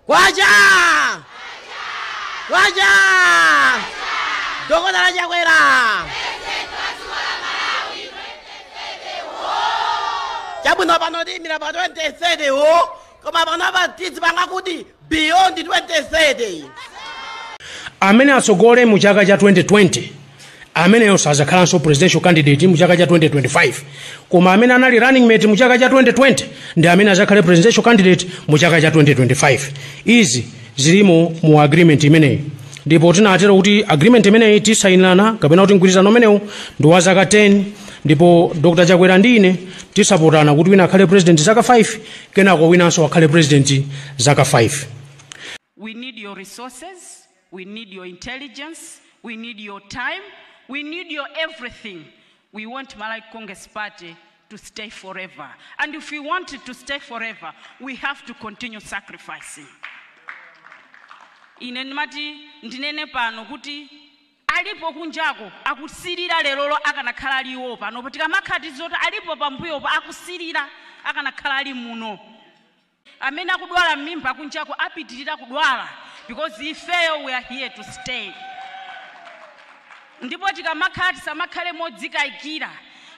kwacha kwacha dokotala chakwera chabwino pano timaimira pa 2030 wo koma pano apa tizipanga kuti beyond 2030 amene atsogole mu chaka cha 2020 ameneyo sazakhalanso presidential candidate mu chaka cha 2025 koma amene anali running mate mu chaka cha 2020 ndi amene azakhale presidential candidate mu chaka cha 2025 izi zilimo mu agreement imeneyi ndipo tinatero kuti agreement imeneyi tisayinirana kapena kuti mgwirizano umenewu ndi wa zaka 10 ndipo dr chakwera ndi ine tisapotana kuti wina akhale president zaka 5 kenako winanso akhale president zaka 5 We need your resources, we need your intelligence, we need your time, we need your everything. We want Malawi Congress Party to stay forever. And if we want it to stay forever, we have to continue sacrificing. ine ndimati ndinene pano kuti alipo kunjako akusirira lerolo akanakhala ali iwo panopo tikamakhala tizoti alipo pambuyopo akusirira akanakhala ali muno amene akudwala mmimba kunjako apitirira kudwala because ifeyo we are here to stay ndipo tikamakhala tisamakhale modzikayikira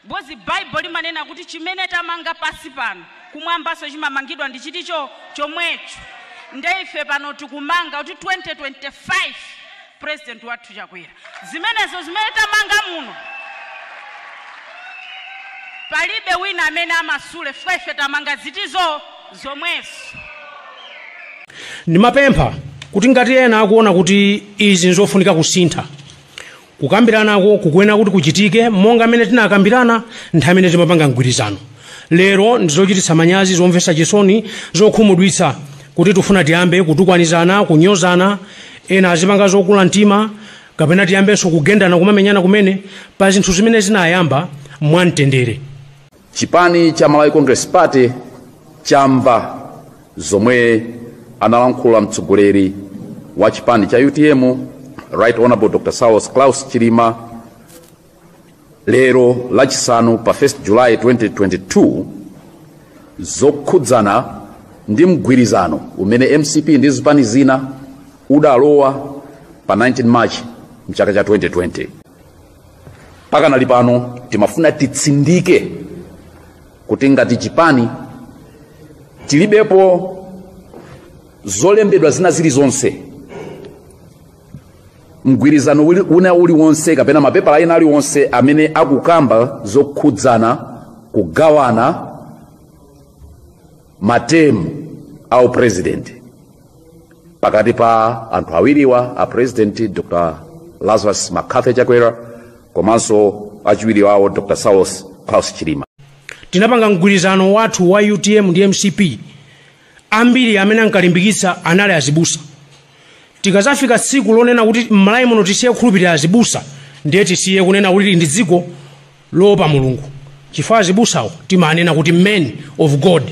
because baibulo limanena kuti chimene tamanga pansi pano kumwambanso chimamangidwa nchiti cho chomwecho nde ife pano tikumanga kuti 2025 president wathu Chakwera zimenezo zimene tamanga muno palibe wina amene amasule chifukwa ife tamanga ziti zo zomwezo. Ndimapempha kuti ngati ena akuona kuti izi nzofunika kusintha kukambiranako kukuyenera kuti kuchitike monga mmene tinakambirana nthawi imene timapanga mgwirizano lero ndizochititsa manyazi zomvetsa chisoni zokhumudwitsa kuti tikufuna tiyambe kutukwanizana kunyozana ena azipanga zokula mtima kapena tiyambenso kugendana kumamenyana kumene pa zinthu zimene zinayamba mwamtendere chipani cha malawi congress party chamva zomwe analankhula mtsogoleri wa chipani cha utm right honorable dr saulos klaus chilima lero lachisanu pa 1 July 2022 zokhudzana ndi mgwirizano umene mcp ndi zipani zina zidalowa pa 19 march mchaka cha 2020 pakanali pano timafuna titsindike kuti ngati chipani tilibepo zolembedwa zina zilizonse mgwirizano wina uliwonse kapena mapepala ena aliwonse amene akukamba zokhudzana kugawana matemu a upresident pakati pa anthu awiriwa a president dr lazarus mccarthy chakwera komanso achiwiri wawo dr saulos klaus chilima tinapanga mgwirizano wathu wa utm ndi mcp ambiri amene ankalimbikitsa anali azibusa tikazafika tsiku lonena kuti m'malawi muno tisiye kukhulupirira azibusa ndiye tisiye kunena kuti ndi dziko loopa mulungu chifukwa azibusawo timanena kuti men of god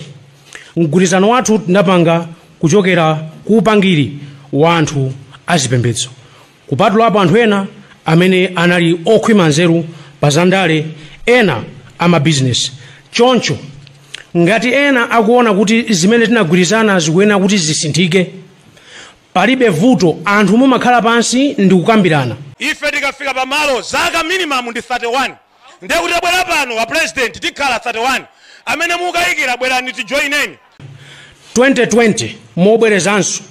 mgwirizano wathu tinapanga kuchokera ku upangiri wa anthu azipembedzo Kupatulapo anthu ena amene anali okhwima nzeru pa zandale, ena amabizinesi. Choncho, ngati ena akuona kuti zimene tinagwirizana zikuyenera kuti zisinthike, palibe vuto, anthu mumakhala pansi ndi kukambirana. Ife tikafika pamalo, zaka minimum ndi 31. Ndiye kuti abwera pano a President tikhala 31 amene mukayikira bwerani tijoineni. 2020 mobwerezanso.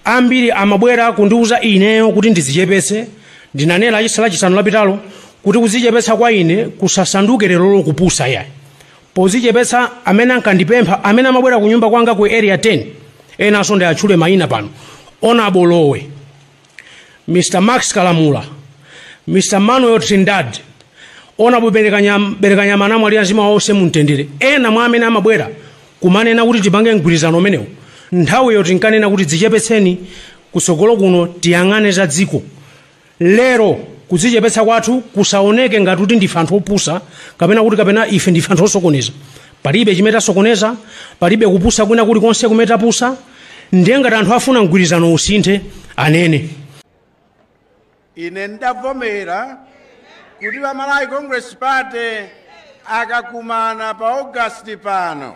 Ambiri amabwera kundiuza ineyo kuti ndidzichepetse, ndinanena lachis lachisanu lapitalo kuti kudzichepetsa kwa ine kusasanduke lerolo kupusa yayi. Podzichepetsa amene ankandipempha amene amabwera kunyumba kwanga ku area 10 enanso ndiatchule mayina pano Honorable Lowe, Mr. Max Kalamula, Mr. Manuel Trindade, Honorable Berekanyam- Berekanyama anamwalira mzimu wawo uuse mumtendere. Ena mwa amene amabwera kumanena kuti tipange mgwirizano umenewo. Nthawiyo tinkanena kuti dzichepetseni kutsogolo kuno tiyang'ane za dziko. Lero kudzichepetsa kwathu kusaoneke ngati kuti ndife anthu opusa kapena kuti kapena ife ndife anthu osokoneza. palibe chimene tasokoneza palibe kupusa kwina kulikonse kumene tapusa ndiye ngati anthu afuna mgwirizano usinthe anene ine ndavomera kuti pa malawi congress party akakumana pa august pano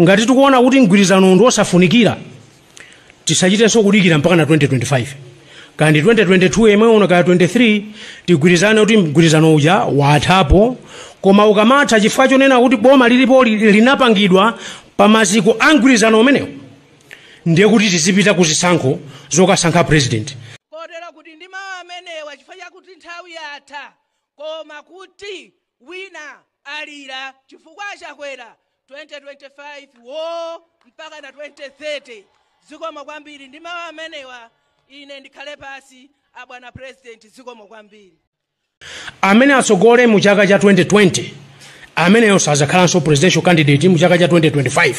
ngati tikuona kuti mgwirizano ndi wosafunikira tisachitenso kudikira mpaka na 2025 kaya ndi 2022 yemwe uno kaya 23 tigwirizane kuti mgwirizano uja wathapo koma ukamatha chifukwa chonena kuti boma lilipo li- linapangidwa pa maziko a mgwirizano umenewo ndiye kuti tizipita ku zisankho zokasankha president kotero kuti ndi mawu amenewa chifukwa chakuti nthawi yatha koma kuti Wina alira chifukwa a Chakwera 2025 woo mpakana 2030 zikomo kwambiri ndi mawu amenewa ine ndikhale pasi a bwana president zikomo kwambiri. Amene atsogole mu chaka cha 2020 ameneyo sazakhalanso presidential candidate mu chaka cha 2025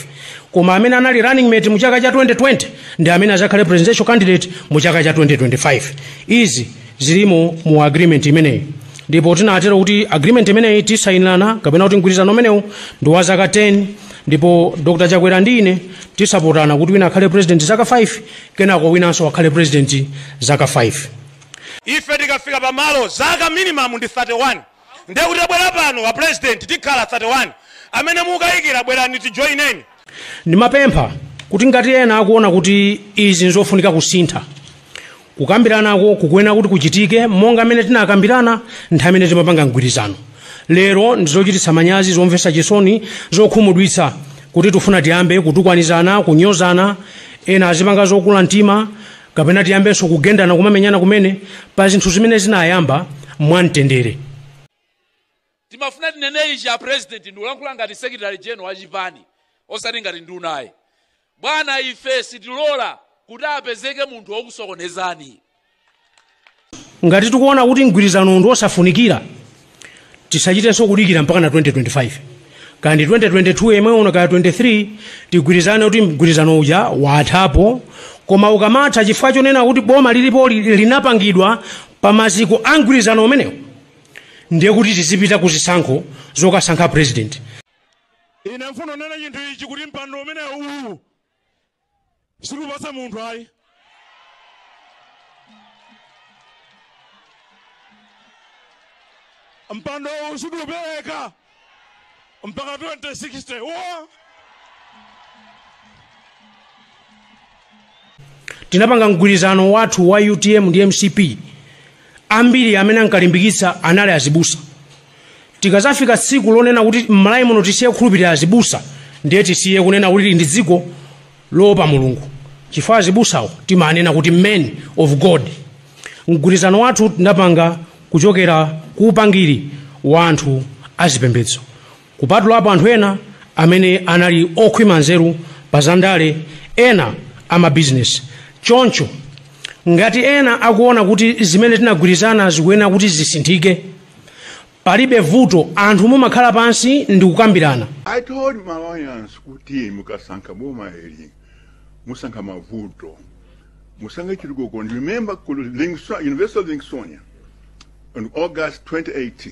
koma amene anali running mate mu chaka cha 2020 ndi amene azakhale presidential candidate mu chaka cha 2025 izi zilimo mu agreement imeneyi ndipo tinatero kuti agreement imeneyi tisayinirana kapena kuti mgwirizano umenewu ndi wa zaka 10 ndipo dr chakwera ndi ine tisapotana kuti wina akhale president zaka 5 kenako winanso akhale president zaka 5 ife tikafika pamalo zaka minimum ndi 31 Ndiye kuti abwera pano a President tikhala 31 amene mukaikira bwerani tijoineni. Ndimapempha kuti ngati ena akuona kuti izi nzofunika kusintha, kukambiranako kukuyenera kuti kuchitike monga mmene tinakambirana nthawi imene timapanga mgwirizano. Lero ndi zochititsa manyazi, zomvetsa chisoni, zokhumudwitsa kuti tifuna tiyambe kutukwanizana, kunyozana, ena azipanga zokula mtima, kapena tiyambenso kugendana kumamenyana kumene pa zinthu zimene zinayamba mwamtendere timafuna tinene ichi a president ndikulankhula ngati secretary general wa chipani osati ngati nduna ayi bwana ife sitilola kuti apezeke munthu wokusokonezani ngati tikuona kuti mgwirizano ndi wosafunikira tisachitenso kudikira mpaka na 2025 kaya ndi 2022 yemwe uno kaya 23 tigwirizane kuti mgwirizano uja wathapo koma ukamatha chifukwa chonena kuti boma lilipoli linapangidwa pa maziko a mgwirizano umenewo ndiye kuti tizipita ku zisankho zokasankha president ine mfuno nena chinthu ichi kuti mpando umenewu uwu sitikupatsa munthu ayi mpando uwu sitiupereka mpaka 2060 wo tinapanga mgwirizano wathu wa utm ndi mcp ambiri amene ankalimbikitsa anali azibusa tikazafika tsiku lonena kuti m'malawi muno tisiye kukhulupirira azibusa ndiye tisiye kunena kuti ndi dziko loopa mulungu chifukwa azibusawo timanena kuti men of god mgwirizano wathu tinapanga kuchokera ku upangiri wa anthu azipembedzo Kupatulapo anthu ena amene anali okhwima nzeru pa zandale, ena amabizinesi. Choncho, ngati ena akuona kuti zimene tinagwirizana zikuyenera kuti zisinthike, palibe vuto, anthu mumakhala pansi ndi kukambirana. I told Malawians kuti mukasankha boma ili musankha mavuto musankhe chitukuko and remember ku Livingsto- University of Livingstonia on August 2018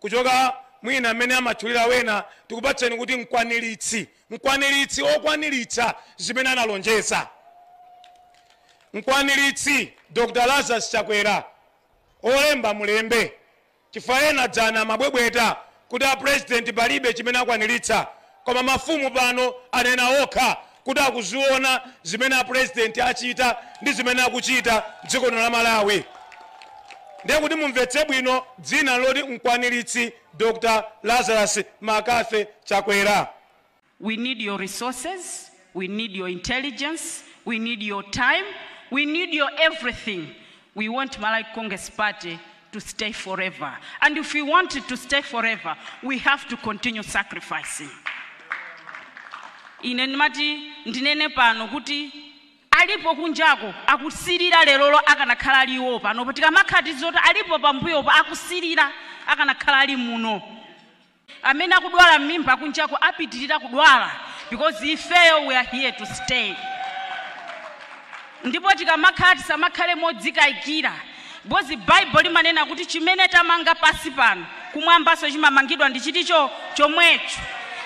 Kuchoka mwina mmene amatchulira wena tikupatseni kuti mkwaniritsi, mkwaniritsi okwaniritsa zimene analonjeza. Mkwaniritsi Dr Lazarus Chakwera olemba mulembe chifukwa ena dzana amabwebweta kuti a president palibe chimene akwaniritsa Koma mafumu pano anena okha kuti akuziona zimene a president achita ndi zimene akuchita mdziko lino la Malawi. Ndiye kuti mumvetse bwino dzina loti Mkwanilitsi Dr Lazarus McCarthy Chakwera. We need your resources. we need your intelligence, we need your time, we need your everything. We want Malawi Congress Party to stay forever. And if we want it to stay forever, we have to continue sacrificing. ine ndimati ndinene pano kuti alipo kunjako akusirira lerolo akanakhala ali iwo pano tikamakhala tizoti alipo pambuyopo akusirira akanakhala ali muno amene akudwala mmimba kunjako apitiriza kudwala because ifeyo we are here to stay ndipo tikamakhala tisamakhale modzikayikira because bible limanena kuti chimene tamanga pansi pano kumwambanso chimamangidwa ndi chinthu chomwecho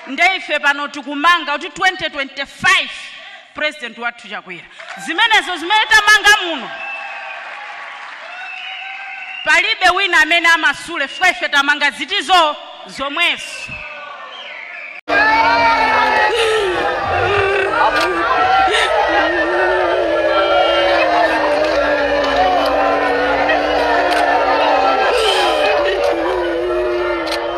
ndiye ife pano tikumanga kuti 2025 president wathu Chakwera zimenezo zimene tamanga muno palibe wina amene amasule chifukwa ife tamanga zinthuzo zomwezo